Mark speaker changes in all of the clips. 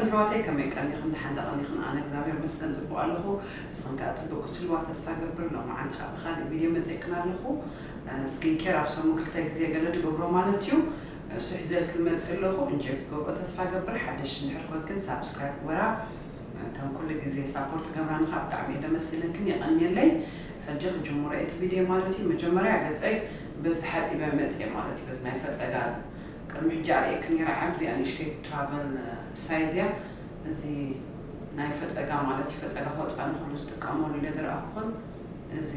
Speaker 1: ኣሕዋተይ ከመይ ቀኒክን ዳሓን ዶ ቀኒክን ኣነ እግዛብሄር ይመስገን ጽቡቅ ኣለኩ ንስክን ከኣ ጽብቅ ክትህልዋ ተስፋ ገብር ሎምዓንቲ ከኣ ብካሊእ ቪድዮ መጺኤክን ኣለኩ ስኪን ኬር ኣብ ሰሙን ክልተ ግዜ ገለ ድገብሮ ማለት እዩ እሱ ሒዘልክን መጺእ ኣለኩ እንጆይ ክትገብርኦ ተስፋ ገብር ሓደሽቲ እንድሕር ኮንክን ሳብስክራይብ ግበራ እተን ኩሉ ግዜ ሳፖርት ትገብራኒ ከኣ ብጣዕሚ እየ ደመስግነክን የቀንየለይ ሕጂ ክጅምሮ እየ እቲ ቪድዮ ማለት እዩ መጀመርያ ገጸይ በዚ ተሓጺበ መጺኤ ማለት እዩ በዚ ናይ ፈጸጋ ቅድሚ ሕጂ ኣርእየኪ ኔረ ዓብዚኣ ንእሽተይ ትራቨል ሳይዝ እያ እዚ ናይ ፈጸጋ ማለት እዩ ፈጸጋ ክወጽኣ ንክሉ ዝጥቀመሉ ኢለ ዝረኣኩክን እዚ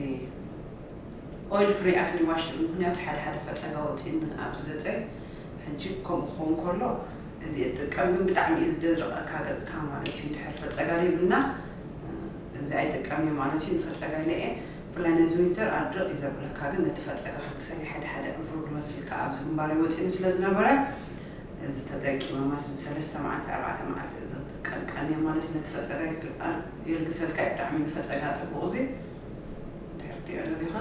Speaker 1: ኦይል ፍሪ ኣክኒ ዋሽ ትብሉ ምክንያቱ ሓደ ሓደ ፈጸጋ ወጺኒ ኣብዚ ገጸይ ሕጂ ከምኡ ክከውን ከሎ እዚ እየ ዝጥቀም ግን ብጣዕሚ እዩ ዝደርቀካ ገጽካ ማለት እዩ እንድሕር ፈጸጋ ዘይብልና እዚ ኣይጥቀም እየ ማለት እዩ ንፈጸጋ ኢለ እየ ብፍላይ ነዚ ዊንተር ኣድርቕ እዩ ዘብለካ ግን ነቲ ፈጸጋ ከግሰለይ ሓደ ሓደ ዕፉር ክመስል ከኣ ኣብዚ ግንባረይ ወጺኒ ስለ ዝነበረ እዚ ተጠቂመ ማለት እዚ ሰለስተ መዓልቲ ኣርባዕተ መዓልቲ እዚ ክጥቀም ቀንየ ማለት እዩ ነቲ ፈጸጋይ የልግሰልካ እዩ ብጣዕሚ ንፈጸጋ ጽቡቕ እዚ እንድሕር ክትሪኦ ደሊኻ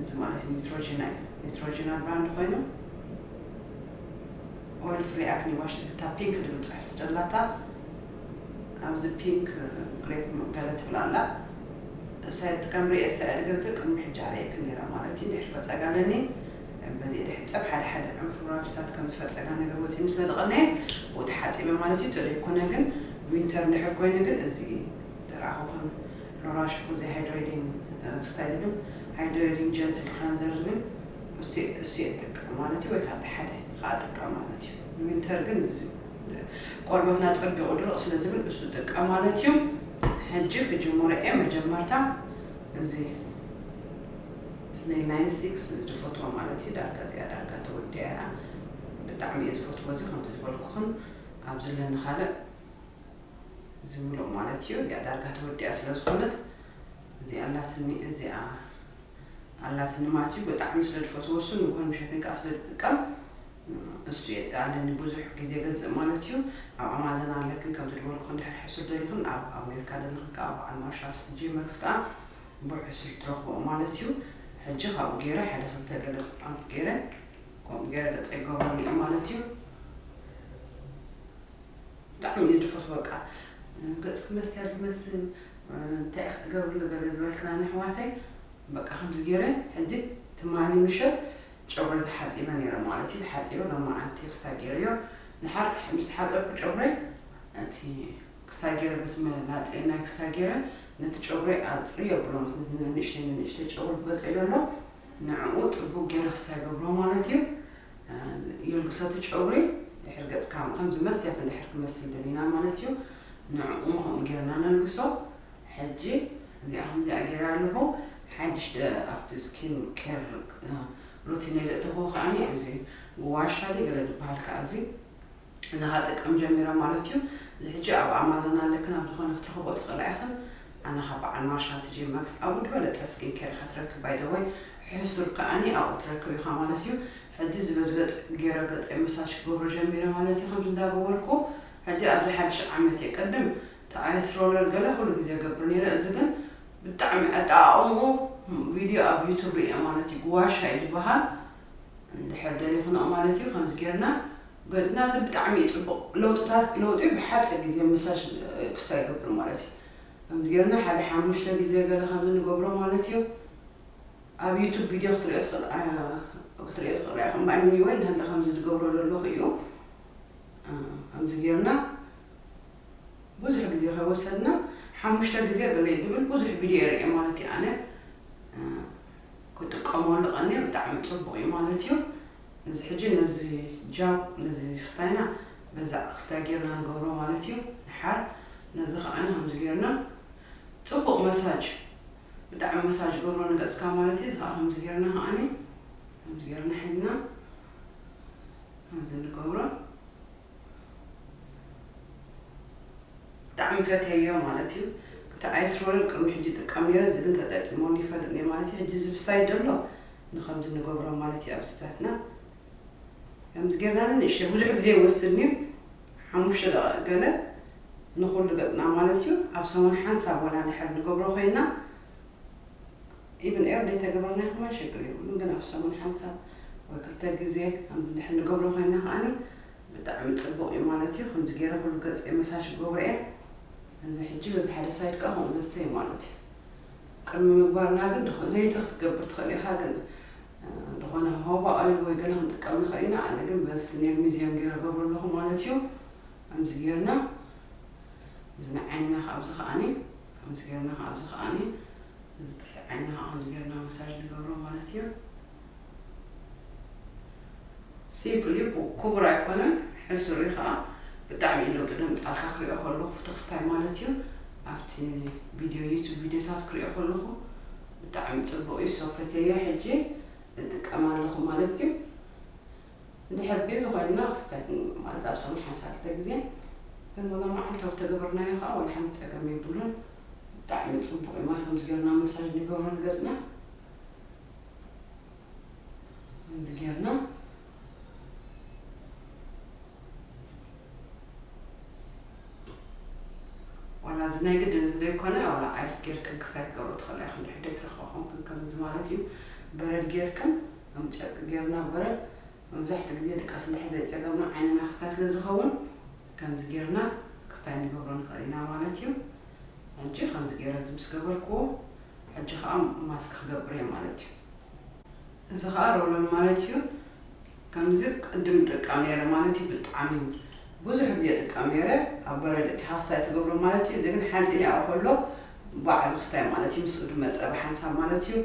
Speaker 1: እዚ ማለት ኒትሮጂና እዩ ኒትሮጂና ብራንድ ኮይኑ ኦይል ፍሪ ኣክኒ ዋሽ ዝብል እታ ፒንክ ዝብል ጽሕፍቲ ደላታ ኣብዚ ፒንክ ግሬፕ ገለ ትብል ኣላ እሳ ይጥቀም ሪኤ እስራኤል ገዝእ ቅድሚ ሕጂ ኣርእየክን ነይረ ማለት እዩ ድሕሪ ፈጸጋ ኣለኒ በዚ እደ ሕጸብ ሓደ ሓደ ዕንፉር ራብሽታት ከምዚ ፈጸጋ ነገር ወጺኒ ስለ ዝቀነየ ብኡ ተሓጺበ ማለት እዩ ተደይ ኮነ ግን ዊንተር እንድሕር ኮይኑ ግን እዚ ደራኣኹክን ሎራሽኩ ዘይ ሃይድሬዲንግ ክስታይ ዝብል ሃይድሬዲንግ ጀንትል ክለንዘር ዝብል እሱ እሱ እጥቀም ማለት እዩ ወይ ካብቲ ሓደ ከኣ ጥቀም ማለት እዩ ንዊንተር ግን እዚ ቆርበትና ጸቢቁ ድርቅ ስለ ዝብል እሱ ጥቀም ማለት እዩ ሕጂ ክጅምሮ እየ መጀመርታ እዚ ስኔል ናይን ስቲክስ ዝፈትዎ ማለት እዩ ዳርጋ እዚኣ ዳርጋ ተወዲኣ እያ ብጣዕሚ እየ ዝፈትዎ እዚ ከምቲ ዝበልኩክን ኣብ ዝለኒ ካልእ እዚ ምሉእ ማለት እዩ እዚኣ ዳርጋ ተወዲኣ ስለ ዝኮነት እዚኣ ኣላትኒ እዚኣ ኣላትኒ ማለት እዩ ብጣዕሚ ስለ ዝፈትዎ እሱ ንጉሆን ምሸትን ከዓ ስለ ዝጥቀም ንሱ እየ ኣለኒ ብዙሕ ግዜ ገዝእ ማለት እዩ ኣብ ኣማዘን ኣለክን ከም ዝድወልኩክን ድሕር ሕሱር ደሊክን ኣብ ኣሜርካ ደለክን ከኣ በዓል ማርሻል ስትጄ ማክስ ከኣ ብሕሱር ትረክቦኦ ማለት እዩ ሕጂ ካብኡ ገይረ ሕደ ክልተ ገለ ኣምፕ ገይረ ከምኡ ገይረ ገጸይ ገበሉ እዩ ማለት እዩ ብጣዕሚ እዩ ዝድፈቱ በቃ ገጽክ መስትያ ዝመስል እንታይ ኢክ ትገብርሉ ገለ ዝበልክና ንሕዋተይ በቃ ከምዚ ገይረ ሕጂ ትማሊ ምሸት ጨጉረይ ተሓጺበ ነይረ ማለት እዩ ተሓጺበ ሎማዓንቲ ክስታይ ገይረዮ ድሓር ምስ ተሓጸብኩ ጨጉረይ እቲ ክስታይ ገይረ በቲ መላጸይ ናይ ክስታይ ገይረ ነቲ ጨጉረይ ኣጽርዮ ኣብሎ ነቲ ንንእሽተይ ንንእሽተይ ጨጉሪ ክበጽዮ ዘሎ ንዕኡ ጽቡቅ ገይረ ክስታይ ገብሮ ማለት እዩ የልግሶቲ ጨጉሪ ድሕር ገጽካ ከምዚ መስትያት እንድሕር ክመስል ደሊና ማለት እዩ ንዕኡ ከምኡ ገይርና ነልግሶ ሕጂ እዚኣ ከምዚኣ ጌረ ኣለኹ ሓድሽ ኣብቲ ስኪን ኬር ሩቲነይ ዘእተኽዎ ከኣ እዚ ጉዋሻ ድዩ ገለ ዝብሃል ከኣ እዚ እዚ ከኣ ክጥቀም ጀሚረ ማለት እዩ እዚ ሕጂ ኣብ ኣማዞን ኣለክን ኣብ ዝኾነ ክትረኽብኦ ትኽእላ ኢኽን ኣነ ካብ በዓል ማርሻ ቲጂ ማክስ ኣብኡ ዝበለጸ ስኪን ኬር ኢኻ ትረክብ ባይ ዘ ወይ ሕሱር ከኣ ኣብኡ ትረክብ ኢኻ ማለት እዩ ሕጂ እዚ በዚ ገጽ ጌረ ገጸይ መሳጅ ክገብሮ ጀሚረ ማለት እዩ ከምዚ እንዳገበርኩ ሕጂ ኣብዚ ሓድሽ ዓመት እየ ቅድም ተኣየስ ሮለር ገለ ኩሉ ግዜ እገብር ኔረ እዚ ግን ብጣዕሚ ኣጠቓቕምኡ ቪድዮ ኣብ ዩቱብ ሪኤ ማለት እዩ ጉዋሻ እዩ ዝበሃል እንድሕር ደሊኹንኦ ማለት እዩ ከምዚ ጌርና ገጽና እዚ ብጣዕሚ እዩ ጽቡቕ ለውጥታት ለውጢ ብሓጺር ግዜ መሳጅ ክስታይ ይገብር ማለት እዩ ከምዚ ጌርና ሓደ ሓሙሽተ ግዜ ገለ ከምዚ ንገብሮ ማለት እዩ ኣብ ዩቱብ ቪድዮ ክትሪኦ ትኽእል ክትሪኦ ትኽእል ኢኻ እምበኣር ወይ እንተለ ከምዚ ዝገብሮ ዘለኹ እዩ ከምዚ ጌርና ብዙሕ ግዜ ከይወሰድና ሓሙሽተ ግዜ ገለይ ትብል ብዙሕ ቪድዮ ሪኤ ማለት እዩ ኣነ ክጥቀመሉ ቀንየ ብጣዕሚ ጽቡቅ እዩ ማለት እዩ እዚ ሕጂ ነዚ ጃብ ነዚ ክስታይና በዛ ክስታይ ጌርና ንገብሮ ማለት እዩ ንሓር ነዚ ከዓነ ከምዚ ጌርና ጽቡቅ መሳጅ ብጣዕሚ መሳጅ ገብሮ ንገጽካ ማለት እዩ እዚ ከዓ ከምዚ ጌርና ከዓኒ ከምዚ ጌርና ሒድና ከምዚ ንገብሮ ብጣዕሚ ፈትየዮ ማለት እዩ እቲ ኣይስሮልን ቅድሚ ሕጂ ይጥቀም ነይረ እዚ ግን ተጠቂመሉ ይፈልጥ ነይረ ማለት እዩ ሕጂ እዚ ብሳይድ ዘሎ ንከምዚ ንገብሮ ማለት እዩ ኣብዚታትና ከምዚ ጌርና ንንእሽተይ ብዙሕ ግዜ ይወስድን እዩ ሓሙሽተ ደቂቅ ገለ ንኩሉ ገጽና ማለት እዩ ኣብ ሰሙን ሓንሳብ ወላ ድሕር ንገብሮ ኮይና ኢቭን ኤር ዘይተገበርና ይኹና ሸግር የብሉን ግን ኣብ ሰሙን ሓንሳብ ወይ ክልተ ግዜ ከምዚ እንድሕር ንገብሮ ኮይና ከኣኒ ብጣዕሚ ጽቡቅ እዩ ማለት እዩ ከምዚ ጌረ ኩሉ ገጸይ መሳጅ ክገብሮ እየ እዚ ሕጂ በዚ ሓደ ሳይድ ከኣ ከምኡ ዘሰይ ማለት እዩ ቅድሚ ምግባርና ግን ድኾ ዘይቲ ክትገብር ትኽእል ኢኻ ግን ዝኾነ ሆባ ኦይል ወይ ገለ ክንጥቀም ንኽእል ኢና ኣነ ግን በዚ ስኔል ሚዚየም ጌረ ገብሮ ኣለኹ ማለት እዩ ከምዚ ጌርና እዚ ንዓይንና ካብዚ ከኣኒ ከምዚ ጌርና ከኣ ኣብዚ ከኣ ነዚ ትሕቲ ዓይንና ከኣ ከምዚ ጌርና መሳጅ ንገብሮ ማለት እዩ። ሲምፕል እዩ ኩቡር ኣይኮነን ሕሱር እዩ ከኣ ብጣዕሚ እዩ ለውጢ ድምጺ ኣልካ ክሪኦ ከለኩ ፍትክስ ታይ ማለት እዩ ኣብቲ ቪድዮ ዩቱብ ቪድዮታት ክሪኦ ከለኩ ብጣዕሚ ጽቡቅ እዩ ሶ ፈትየዮ ሕጂ እጥቀማ ኣለኩ ማለት እዩ። እንድሕር ቤዚ ኮይንና ክትታይ ማለት ኣብ ሰሙን ሓንሳብ ክልተ ግዜ ግን ወላ መዓልታዊ ተገበርናዮ ከኣ ወላ ሓንቲ ጸገም የብሉን ብጣዕሚ ጽቡቅ እዩ ማለት ከምዚ ጌርና መሳጅ ንገብሮ ንገጽና ከምዚ ጌርና ዋላ እዚ ናይ ግድን እዚ ዘይኮነ ዋላ ኣይስ ጌርክን ክስታይ ትገብሮ ትኽእላ ኢኹም ድሕር ዘይትረኽቦ ኮንክን ከምዚ ማለት እዩ በረድ ጌርክን ከም ጨርቂ ጌርና ወረ መብዛሕትኡ ግዜ ድቃስ እንድሕር ዘይጸገምና ዓይንና ክስታይ ስለ ዝኸውን ከምዚ ጌርና ክስታይ ንገብሮ ንኽእል ኢና ማለት እዩ። ሕጂ ከምዚ ጌረ እዚ ምስ ገበርክዎ ሕጂ ከኣ ማስክ ክገብር እየ ማለት እዩ። እዚ ከኣ ሮሎን ማለት እዩ። ከምዚ ቅድም እጥቀም ኔረ ማለት እዩ ብጣዕሚ ብዙሕ ግዜ እጥቀም ኔረ ኣብ በረድ እቲ ሃስታይ ትገብሮ ማለት እዩ እዚ ግን ሓጺን ይኣኡ ከሎ ባዕሉ ክስታይ ማለት እዩ ምስኡ ድማ ጸባ ሓንሳብ ማለት እዩ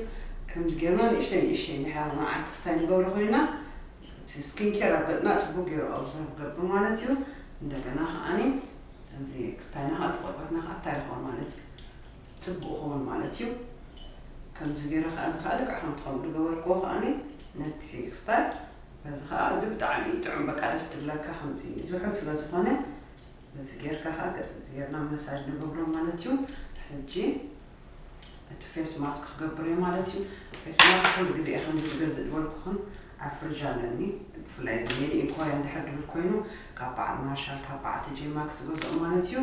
Speaker 1: ከምዚ ጌርና ንእሽተይ ንእሽተይ እንድሕር መዓልቲ ክስታይ ንገብሮ ኮይና እቲ ስኪን ኬር ኣብ ገጽና ጽቡቅ ጌሩ ኦብዘርቭ ገብር ማለት እዩ እንደገና ከኣኒ እዚ ክስታይና ከኣ እዚ ቆርበትና ከኣ እንታይ ይኸውን ማለት እዩ ጽቡቅ ይኸውን ማለት እዩ ከምዚ ጌረ ከኣ እዚ ከኣ ልክዕ ከምቲ ከምኡ ዝገበርክዎ ከኣኒ ነቲ ክስታይ በዚ ከኣ እዚ ብጣዕሚ ጥዑም በቃ ደስ ትብለካ ከምዚ ዝሑል ስለ ዝኾነ ነዚ ጌርካ ከኣ ገጽ ነዚ ጌርና መሳጅ ንገብሮም ማለት እዩ ሕጂ እቲ ፌስ ማስክ ክገብር እየ ማለት እዩ ፌስ ማስክ ኩሉ ግዜ ከምዚ ዝገዝእ ዝበልኩኹም ኣብ ፍርጅ ኣለኒ ብፍላይ እዚ ሜድ ኢን ኮርያ እንድሕር ድብል ኮይኑ ካብ በዓል ማርሻል ካብ በዓል ቲጄ ማክስ ዝገዝኦ ማለት እዩ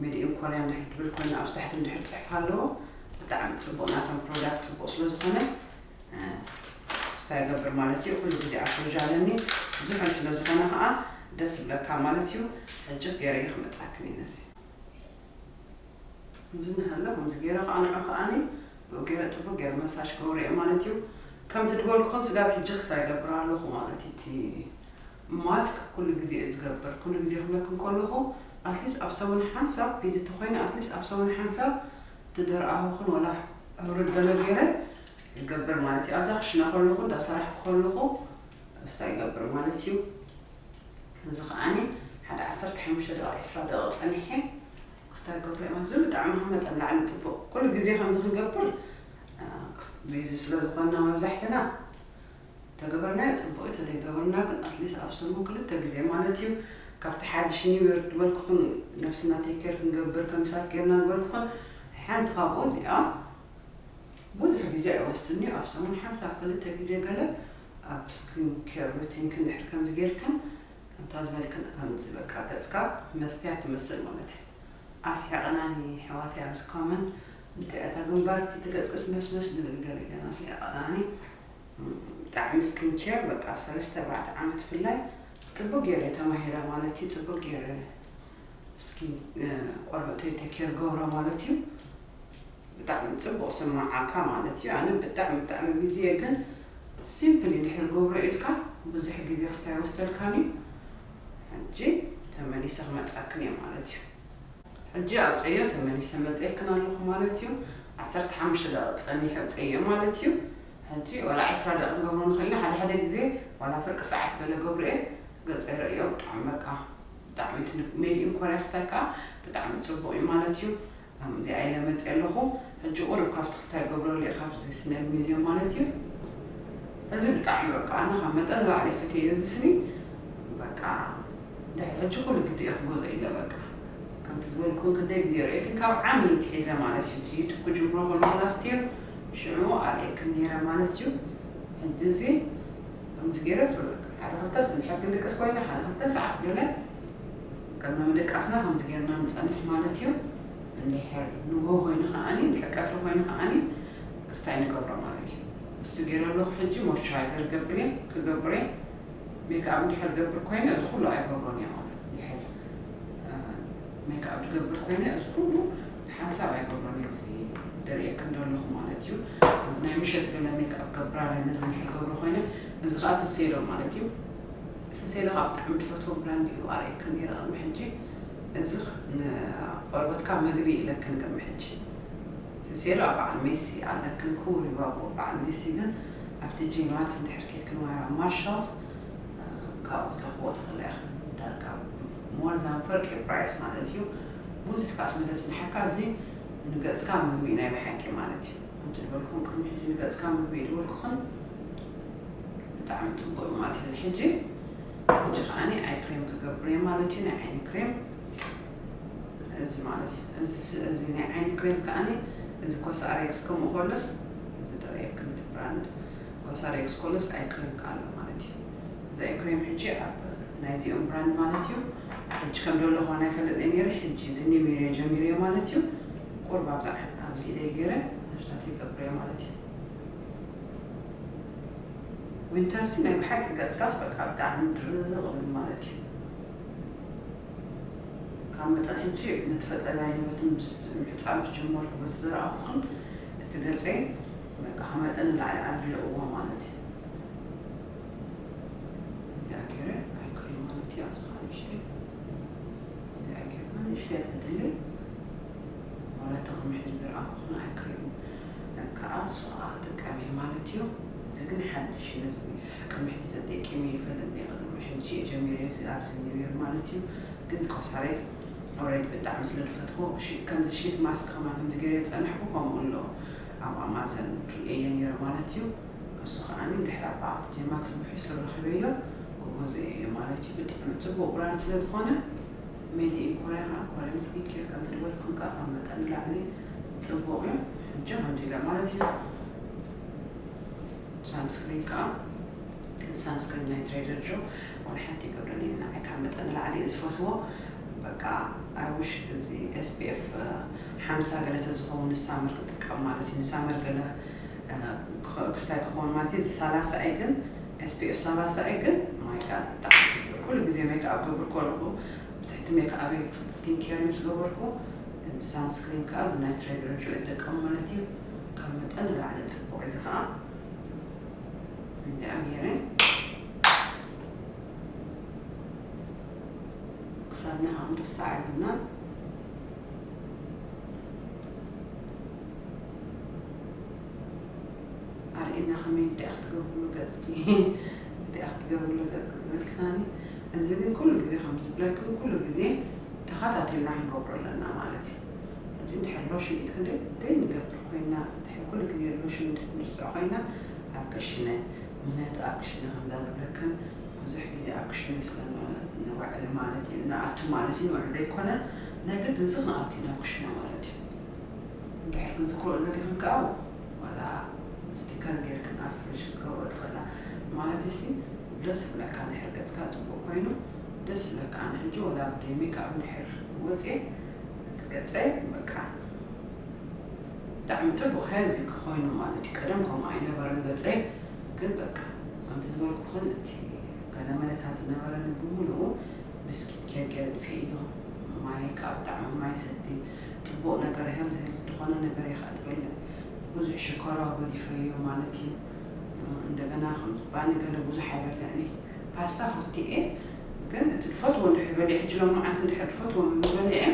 Speaker 1: ሜድ ኢን ኮርያ እንድሕር ድብል ኮይኑ ኣብዚ ታሕቲ እንድሕር ጽሑፍ ኣለዎ ብጣዕሚ ጽቡቕ ናቶም ፕሮዳክት ጽቡቕ ስለ ዝኾነ ስታ ይገብር ማለት እዩ ኩሉ ግዜ ኣፍርዥ ኣለኒ ዝሑል ስለ ዝኾነ ከኣ ደስ ይብለካ ማለት እዩ ሕጂ ገይረዮ ክመጻክን እዩ ነዚ እዚ ንሃሎ ከምዚ ገይረ ከኣ ንዑ ከኣኒ ብኡ ገይረ ጽቡቅ ገይረ መሳሽ ገብሮ እየ ማለት እዩ ከምቲ ድበልኩኹም ስጋብ ሕጂ ክስታ ይገብር ኣለኹ ማለት እዩ እቲ ማስክ ኩሉ ግዜ እየ ዝገብር ኩሉ ግዜ ክብለክም ከለኹ ኣትሊስት ኣብ ሰሙን ሓንሳብ ቢዚ ተኮይነ ኣትሊስት ኣብ ሰሙን ሓንሳብ ትደርኣኹን ወላ ሕሩድ ገለ ገይረ ይገብር ማለት እዩ ኣብዛ ክሽነ ከለኹ እንዳ ሰራሕኩ ከለኹ እስታ ይገብር ማለት እዩ እዚ ከዓኒ ሓደ ዓሰርተ ሓሙሽተ ደቂቕ ዕስራ ደቂቕ ፀኒሐ ክስታ ይገብር እየ ማለት ብጣዕሚ ካብ መጠን ላዕሊ ፅቡቕ ኩሉ ግዜ ከምዚ ክንገብር ቢዚ ስለ ዝኾንና መብዛሕትና ተገበርናዮ ፅቡቅ እዩ ተዘይገበርና ግን ኣትሊስት ኣብ ሰሙን ክልተ ግዜ ማለት እዩ ካብቲ ሓድሽ ኒው ዮር ዝበልኩኹን ነብስና ቴክር ክንገብር ከምሳት ጌርና ዝበልኩኹን ሓንቲ ካብኡ እዚኣ ብዙሕ ግዜ ኣይወስድን'ዩ፣ ኣብ ሰሙን ሓንሳብ ክልተ ግዜ ገለ ኣብ ስኪን ኬር ሩቲንክን ድሕሪ ከምዚ ጌርክን እንተ ዝበልክን ከምዚ በቃ ገጽካ መስትያት ትመስል ማለት ኣስሒቐናኒ የሕዋተይ ኣብዚ ኮመንት እንታይ እያ እታ ግንባርኪ እቲ ገጽክስ መስመስ ዝብል ገለ ገለ ኣስሒቐናኒ ብጣዕሚ ስኪን ኬር በቃ ኣብ ሰለስተ ኣርባዕተ ዓመት ብፍላይ ጽቡቅ ጌረ ተማሂረ ማለት እዩ ጽቡቅ ጌረ እስኪ ቆርበተይ ተኬር ገብሮ ማለት እዩ ብጣዕሚ ጽቡቅ ስማዓካ ማለት እዩ ኣነ ብጣዕሚ ብጣዕሚ ግዜ ግን ሲምፕሊ ድሕር ገብሮ ኢልካ ብዙሕ ግዜ ክስታይ ኣይወስደልካን እዩ ሕጂ ተመሊሰ ክመጻክን እየ ማለት እዩ ሕጂ ኣብፀዮ ተመሊሰ መፅኤክን ኣለኹ ማለት እዩ ዓሰርተ ሓሙሽተ ደቂ ጸኒሑ ኣብፀዮ ማለት እዩ ሕጂ ዋላ ዕስራ ደቂ ገብሮ ንኽእል ሓደ ሓደ ግዜ ዋላ ፍርቂ ሰዓት ገለ ገብሮ እየ ገጸ ይረእዮ ብጣዕሚ በቃ ብጣዕሚ ትልቅ ሜድዩም ኮርያ ክስታይካ ብጣዕሚ ጽቡቅ እዩ ማለት እዩ ላም እዚኣ ኢለ መጽየ ኣለኩ ሕጂ ቁሩብ ካብቲ ክስታይ ገብረሉ ኢካ ብዘይ ስነል ሜዝዩም ማለት እዩ እዚ ብጣዕሚ በቃ ኣነ ካብ መጠን ንላዕሊ ፈትየዮ እዚ ስኒ በቃ ድሕሪ ሕጂ ኩሉ ግዜ እየ ክገዝኦ ኢለ በቃ ከምቲ ዝበልኩን ክንደይ ግዜ ርእየክን ካብ ዓሚ ትሒዘ ማለት እዩ እቲ ዩቱብ ክጅምሮ ከለኩ ላስት ይር ሽዑ ኣርእየክን ኔረ ማለት እዩ ሕጂ እዚ ከምዚ ገይረ ፍርቅ ሓደ ክልተስ እንድሕር ክንድቅስ ኮይና ሓዚ ክልተ ሰዓት ገለ ቅድሚ ምድቃስና ከምዚ ገይርና ንጸንሕ ማለት እዩ እንድሕር ንግሆ ኮይኑ ከኣ እንድሕር ቀትሪ ኮይኑ ከኣ ክስታይ ንገብሮ ማለት እዩ እሱ ገይረ ኣለኩ ሕጂ ሞይስቸራይዘር ገብር እየ ክገብር እየ ሜክኣብ እንድሕር ገብር ኮይነ እዚ ኩሉ ኣይገብሮን እየ ማለት እንድሕር ሜክኣብ ድገብር ኮይነ እዚ ኩሉ ሓንሳብ ኣይገብሮን እየ እዚ ደርኤክን ደለኹ ማለት እዩ ኣንድ ናይ ምሸት ገለ ሜክኣብ ገብር ኣለ ነዚ እንድሕር ገብሮ ኮይነ እዚ ከኣ ስሴዶ ማለት እዩ ስሴዶ ከኣ ብጣዕሚ ድፈትዎ ብራንድ እዩ ኣርእየክን ነይረ ቅድሚ ሕጂ እዚ ንቆርበትካ መግቢ እዩ ኢለክን ቅድሚ ሕጂ ስሴዶ ኣብ በዓል ሜሲ ኣለክን ክቡር እዩ ባቦ በዓል ሜሲ ግን ኣብቲ ጂ ማክስ እንድሕር ኬድክን ወይ ኣብ ማርሻልስ ካብኡ ክትረኽብዎ ትኽእላ ኢኽን ዳርጋ ሞር ዛን ፍርቂ ፕራይስ ማለት እዩ ቡዙሕ ካኣ ስለ ዘጽነሐካ እዚ ንገጽካ ምግቢ እዩ ናይ ብሓቂ ማለት እዩ ከምቲ ድበልኩኹም ቅድሚ ሕጂ ንገጽካ ምግቢ እዩ ድበልኩኽን ብጣዕሚ ጽቡቅ እዩ ማለት እዩ እዚ ሕጂ ሕጂ ካኣኒ ኣይ ክሬም ክገብር እየ ማለት እዩ ናይ ዓይኒ ክሬም እዚ ማለት እዩ እዚ ስ እዚ ናይ ዓይኒ ክሬም ካኣኒ እዚ ኮሳሬክስ ከምኡ ከሎስ እዚ ደርእየክን እቲ ብራንድ ኮሳሬክስ ኮሎስ ኣይ ክሬም ካኣ ኣሎ ማለት እዩ እዚ ኣይ ክሬም ሕጂ ኣብ ናይዚኦም ብራንድ ማለት እዩ ሕጂ ከም ደለኹ ኣነ ኣይፈልጥን እየ ኔረ ሕጂ እዚ ኒሚረ ጀሚረዮ ማለት እዩ ቁሩብ ኣብዛ ኣብዚ ኢደይ ጌረ ነብሳት ይገብረዮ ማለት እዩ ዊንተር ሲ ናይ ብሓቂ ገጽካ በቃ ብጣዕሚ ድርቕ እብል ማለት እዩ ካብ መጠን ሕጂ ነቲ ፈጸጋይ ንበቲ ምስ ምሕጻብ ዝጀመርኩ በቲ ዘረኣኹ ክን እቲ ገጸይ በቃ ከመጠን ንላዕሊ ኣድሪቕዎ ማለት እዩ እንድሕር ገይረ ኣይክእሎ ማለት እዩ ኣብዚ ከኣ ንእሽተይ እንድሕር ገይርና ንእሽተይ እያ ተድልይ ዋላ እቲ ከም ሕጂ ዝረኣኹክን ኣይክእሉ ከኣ ንሱ ከኣ ክጥቀም እየ ማለት እዩ እዚ ግን ሓድሽ እዩ ነዚ ቅድሚ ሕጂ ተጠቂመ ይፈልጥ እየ ቅድሚ ሕጂ እየ ጀሚረዮ እዚ ኣብዚ ኒው ይር ማለት እዩ ግን ኮሳሬት ኦሬዲ ብጣዕሚ ስለ ዝፈትዎ ሺት ከምዚ ሺት ማስክ ከማን ከምዚ ገይረ ዝጸናሕኩ ከምኡ ኣሎ ኣብ ኣማዘን ርእየ ነይረ ማለት እዩ እሱ ከኣ ድሕሪ ኣባ ኣፍትየ ማክስ ብሕሱር ረኪበዮ እወ ዘየዮ ማለትዩ ብጣዕሚ ጽቡቅ ብራንድ ስለ ዝኮነ ሜድ ኢን ኮርያ ከኣ ኮርያን ስኪን ኬር ከም ዝድወልክን ከኣ ካብ መጠን ንላዕሊ ጽቡቅ ዩ ሕጂ ከምዚ ኢለ ማለት ዩ ሳንስክሪን ከኣ እዚ ሳንስክሪን ናይ ትሬደር ጆ ዋላ ሓንቲ ይገብረኒ ዩ ንዓይ ካብ መጠን ንላዕሊ ዩ ዝፈስዎ በቃ ኣይ ዊሽ እዚ ኤስፒኤፍ ሓምሳ ገለ ተዝከውን ንሳመር ክጥቀም ማለት ዩ ንሳመር ገለ ክስታይ ክከውን ማለት እየ እዚ ሳላሳ እይ ግን SPF ሳላሳ እይ ግን ማይ ጋድ ብጣዕሚ ጽብቅ ኩሉ ግዜ ሜክኣብ ክገብር ከለኩ ብትሕቲ ሜክኣበይ ስኪን ኬር እዩ ዝገበርኩ እዚ ሳን ስክሪን ከኣ እዚ ናይ ትሬገር ጆይ እጥቀም ማለት እዩ ካብ መጠን ንላዕሊ ጽቡቅ እዩ እዚ ከኣ እንዲኣ ጌረ ክሳድና ከኣ ክንርስዓ የብልናን። ኣርእየና ከመይ እንታይ ክትገብርሉ ገጽኪ እንታይ ክትገብርሉ ገጽኪ ዝብል ክታኒ እዚ ግን ኩሉ ግዜ ከምቲ ዝብለክን ኩሉ ግዜ ተኸታቲልና ክንገብሮ ኣለና ማለት እዩ ሕጂ እንድሕር ሎሽን ኢድ ክንደይ ደይ ንገብር ኮይና እንድሕር ኩሉ ግዜ ሎሽን እንድሕር ንርስዖ ኮይና ኣብ ክሽነ ምክንያቱ ኣብ ክሽነ ከምዛ ዝብለክን ብዙሕ ግዜ ኣብ ክሽነ ስለ ንውዕል ማለት እዩ ንኣቱ ማለት እዩ ንውዕል ዘይኮነ ነግድ ክንሲ ክንኣቱ ኢና ኩሽና ማለት እዩ እንድሕር ክንዝክሮ ዘሊክን ከኣ ዋላ ስቲከር ገርክን ኣብ ፍሪጅ ክትገብሮ ትክእላ ማለተይሲ ደስ ክብለካ እንድሕር ገጽካ ጽቡቅ ኮይኑ ደስ ይብለካ ኣነ ሕጂ ዋላ ብደይ ሜክኣብ እንድሕር ወጽየ እቲ ገጸይ በቃ ብጣዕሚ ጽቡቅ ሄልዚ ኮይኑ ማለት እዩ ቀደም ከምኡ ኣይነበረን ገጸይ ግን በቃ ከምቲ ዝበልኩክን እቲ ገለመለታት ዝነበረኒ ብምሉኡ ምስኪን ኬንኬ ኣጥፊኤዮ ማይካ ብጣዕሚ ማይ ሰቲ ጽቡቅ ነገር ሄልዝ ሄልዝ ድኮነ ነገር ኢካ ትበልዕ ቡዙሕ ሽኮርዋ ጎዲፈዮ ማለት እዩ እንደገና ከምዚ ባኒ ገለ ቡዙሕ ኣይበልዕንየ ፓስታ ፈቱ እየ ግን እቲ ድፈትዎ እንድሕር በሊዐ ሕጂ ሎምዓንቲ እንድሕር ድፈትዎ ምግቢ በሊዐ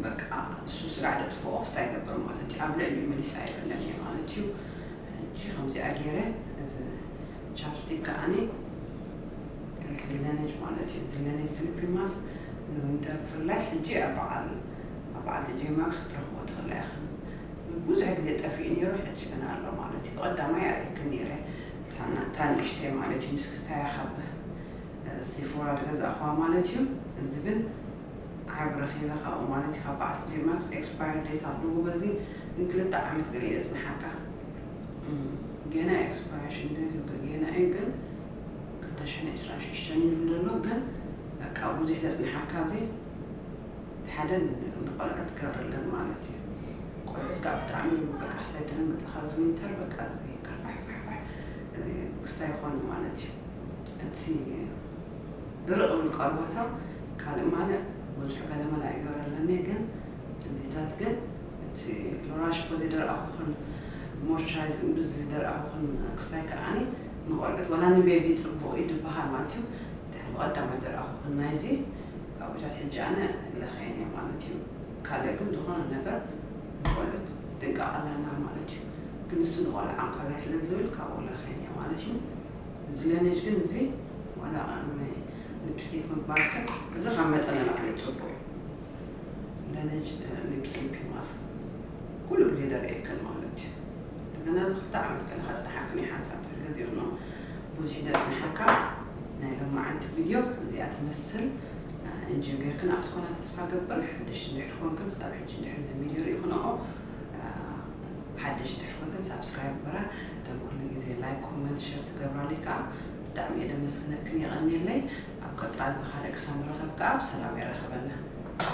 Speaker 1: በቃ እሱ ስጋዕ ደጥፍኦ ክስታ ይገብር ማለት እዩ ኣብ ልዕሊኡ መሊሰ ኣይበልዕንየ ማለት እዩ ሕጂ ከምዚኣ ጌረ እዚ ቻፕስቲክ ከኣኒ ዝለነጅ ማለት እዩ ዝለነጅ ስሊፒንግ ማስክ ንዊንተር ብፍላይ ሕጂ ኣብ በዓል ኣብ በዓል ቲጄ ማክስ ክትረኽቦ ትኽእላ ኢኽን ንብዙሕ ግዜ ጠፊኡ ኔሩ ሕጂ ግን ኣሎ ማለት እዩ ብቀዳማይ ኣርእየክን ኔረ እታ እታ ንእሽተይ ማለት እዩ ምስ ክስታያ ካብ ሴፎራ ዝገዛእኽዋ ማለት እዩ እዚ ግን ዓርቢ ረኺበ ካብኡ ማለት እዩ ካብ በዓል ቲጄ ማክስ ኤክስፓየር ዴት ኣለዎ በዚ ግን ክልተ ዓመት ገለ እዩ ዘጽንሓካ ጌና ኤክስፓራሽን ዴቱ ገጌና እዩ ግን ክልተ ሽሕን ዕስራን ሽዱሽተን እዩ ኢሉ ደሎ ግን በቃ ቡዚሕ ዘጽንሓካ እዚ እቲ ሓደ ንቆልዑ ትገብረለን ማለት እዩ ቆልዑት ካኣ ብጣዕሚ እዩ በቃ ክስታይ ደንግጽኻ እዚ ዊንተር በቃ እዚ ከርፋሕፋሕፋሕ ክስታይ ይኾኑ ማለት እዩ እቲ ድርቅ ዝብሉ ቀርቦቶም ካልእ ማልእ ቡዙሕ ገለመላ ይገብረለን እየ ግን እዚታት ግን እቲ ሎራሽ እኮ ዘይደርኣኹኽን ሞርቸራይዝ እምብዝ ዝደርኣኹኽን ክስታይ ከኣኒ ንቆልዑት ዋላ ንቤቢ ጽቡቕ እዩ ድበሃል ማለት እዩ ድሕሪ ብቐዳማይ ደርኣኹኽን ናይዚ ኣዊታት ሕጂ ኣነ ለኽየን እየ ማለት እዩ ካልእ ግን ዝኾነ ነገር ንቆልዑት ጥንቃቐ ኣለና ማለት እዩ ግን ንሱ ንቆልዓ እንኮላይ ስለ ዝብል ካብኡ ለኽየን እየ ማለት እዩ እዚ ለኔጅ ግን እዚ ዋላ ቐርኒ ሊፕስቲክ ምግባርክን እዚ ካብ መጠን ንላዕሊ ጽቡቕ እዩ ለነጅ ሊፕሲን ፒማስ ኩሉ ግዜ ደርኤክን ማለት እዩ እንደገና እዚ ክልተ ዓመት ገለ ከጽንሓክን እዩ ሓንሳብ ድሕሪ ግዜ ክኖ ብዙሕ ደጽንሓካ ናይ ሎማዓንቲ ቪድዮ እዚኣ ትመስል እንጆ ጌርክን ኣብቲ ኮና ተስፋ ገብር ሓደሽቲ ድሕሪ ኮንክን ስካብ ሕጂ ድሕሪ እዚ ቪድዮ ሪኢክንኦ ሓደሽቲ ድሕሪ ኮንክን ሳብስክራይብ ግበራ እቶም ኩሉ ግዜ ላይክ ኮመንት ሸር ትገብራለይ ከዓ ብጣዕሚ እየ ደመስግነክን የቀንየለይ ኣብ ቀፃሊ ብካልእ ክሳብ ንራከብ ካኣ ብሰላም የራክበና።